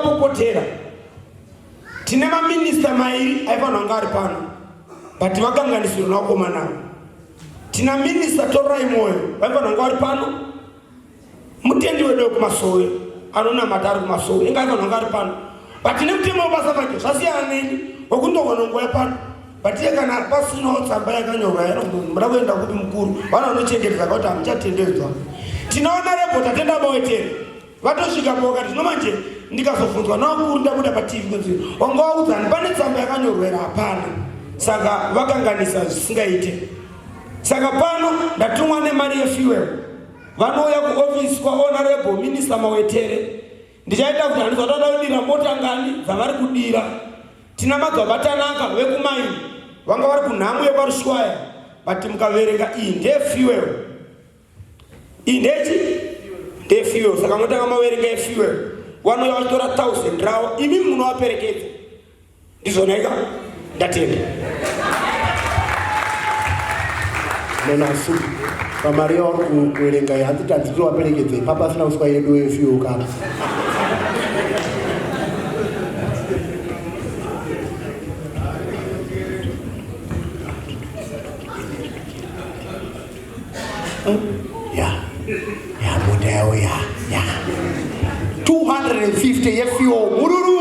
Kukotera tine maminista mairi aifanira kunge ari pano but vakanganisiro nakomanavo tina minista torai mwoyo vaifanira kunge vari pano mutendi wedu wekumasowe anonamata ari kumasowe inga aifanira kunge ari pano but tine mutemo webasa vake zvasiyana neni wekundogona nguva yapano but iye kana pasinawo tsamba yakanyorwa yanoda kuenda kupi mukuru vana vanochengetedza kuti hamuchatendedzwa tinoona rebota tendaboetere vatosvika po vakati no manje ndikazobvunzwa navakuru ndabuda patv kunzi wanga waudzani pane tsamba yakanyorwera hapana saka vakanganisa zvisingaite saka pano ndatumwa nemari yefuel vanouya kuofisi kwahonorable minister mawetere ndichaita kuti handiza toda kudira mota ngani dzavari kudira tina magavatanaka vekumaini vanga vari kunhamu yekwarushwaya but mukaverenga iyi ndefuel indechi ndefuel saka motanga maverenga efuel vanouya vachitora thousand ravo imi munovaperekedza ndizvonaika ndatenda nenasu pamari yauri kuverenga hanzi tanzi tiwaperekedze papa asina kuswa yedu efuel kana ya ya mota yawo ya ya 250 yefuel mururu